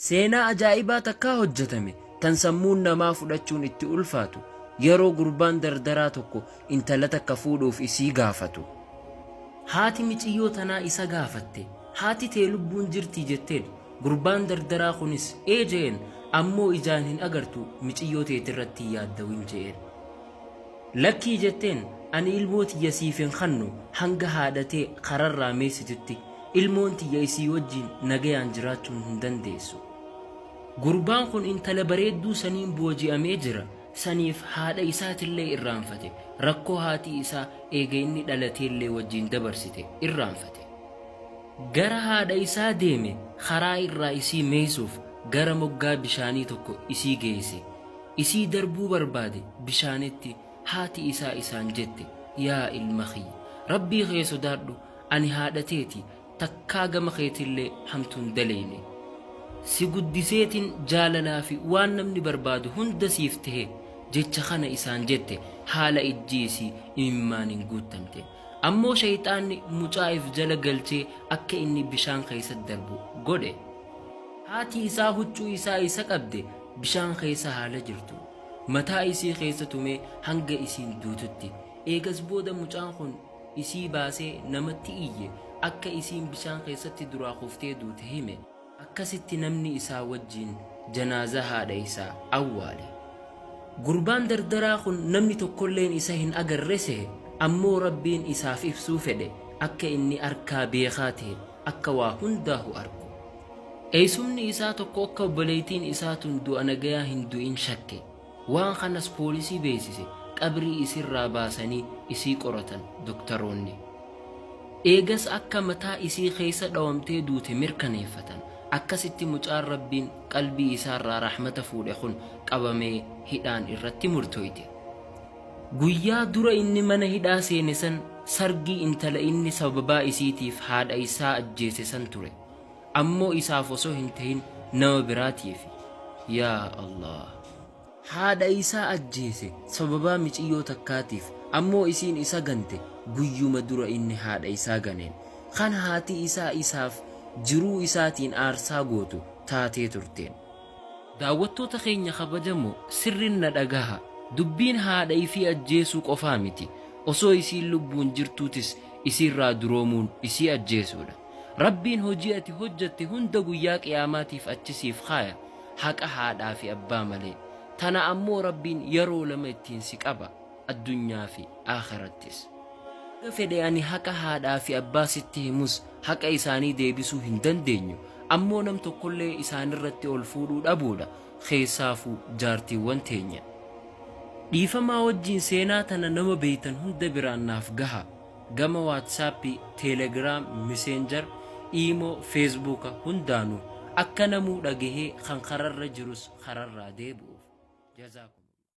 Seenaa ajaa'ibaa takkaa hojjatame tan sammuun namaa fudhachuun itti ulfaatu yeroo gurbaan dardaraa tokko intala takka fuudhuuf isii gaafatu. Haati miciyyoo tanaa isa gaafatte. Haati tee lubbuun jirtii jetteen. Gurbaan dardaraa kunis ee je'een, ammoo ijaan hin agartu miciyyoo teetirratti hin yaaddawin je'een. Lakkii jetteen, Ani ilmoo tiyya siif hin kannu, hanga haadha tee kararraa meeysitutti, ilmoon tiyya isii wajjiin nagayaan jiraachuun hin dandeessu. Gurbaan kun intala bareedduu saniin booji'amee jira, saniif haadha isaatillee irraanfate, rakkoo haati isaa eega inni dhalateellee wajjiin dabarsite irraanfate. Gara haadha isaa deeme, karaa irraa isii meeysuuf, gara moggaa bishaanii tokko isii geeyse. Isii darbuu barbaade bishaanitti, haati isaa isaan jette, Yaa ilma kiyya! Rabbii kee sodaadhu, ani haadha teeti, takkaa gama keetillee hamtuu hin daleyne. Si guddiseetin jaalalaa fi waan namni barbaadu hunda siif tehe. Jecha kana isaan jette, haala ijji isii imimmaaniin guuttamte. Ammoo sheyxaanni mucaa if jala galchee akka inni bishaan keeysatti darbu godhe. Haati isaa huccuu isaa isa qabde, Bishaan keessa haa lajirtu. Mataa isii keessa tumee hanga isiin duututti. Eegas booda mucaan kun isii baasee namatti iyye, akka isiin bishaan keessatti duraa kuftee duute hime. Akkasitti namni isaa wajjiin janaazaa haadha isaa awwaale. Gurbaan dardaraa kun namni tokkolleen isa hin agarre sehe, ammoo Rabbiin isaaf ibsuu fedhe akka inni arkaa beekaa tehe. akka waa hundaahu arku. Eysumni isaa tokko akka obboleeytiin isaa tun du'a nagayaa hin du'in shakke. Waan kanas poolisii beeysise, qabrii isirraa baasanii isii qoratan doktaroonni. Eegas akka mataa isii keeysa dhawamtee duute mirkaneeffatan. Akkasitti mucaan Rabbiin qalbii isaarraa rahmata fuudhe kun qabamee hidhaan irratti murtooyte. Guyyaa dura inni mana hidhaa seene san sargii intala inni sababaa isiitiif haadha isaa ajjeese san ture. Ammoo isaaf osoo hin tahin nama biraatiifi. Yaa Allah! Haadha isaa ajjeese sababaa miciyyoo takkaatiif, ammoo isiin isa gante guyyuma dura inni haadha isaa ganeen. Kan haati isaa isaaf jiruu isaatiin aarsaa gootu taatee turteen. Daawwattoota keenya kabajamoo, sirrin na dhagaha. Dubbiin haadha ifii ajjeesuu qofaa miti. Osoo isiin lubbuun jirtuutis isiirraa duroomuun isii ajjeesuudha. Rabbiin hojii ati hojjatte hunda guyyaa qiyaamaatiif achi siif kaaya. Haqa haadhaa fi abbaa malee. Tana ammoo Rabbiin yaroo lama ittiin si qaba. addunyaa fi aakhirattis. Haga fedhe ani haqa haadhaa fi abbaa sitti himus haqa isaanii deebisuu hin dandeenyu, ammoo nam tokkollee isaanirratti ol fuudhuu dhabuudha, keessaafuu jaartiiwwan teenya. Dhiifamaa wajjiin seenaa tana nama beeytan hunda biraan naaf gahaa. Gama WhatsApp, Telegram, Messenger, Imo, Facebook hundaanu akka namuu dhagahee kan kararra jirus kararraa deebi'uuf. Jazaakumullah.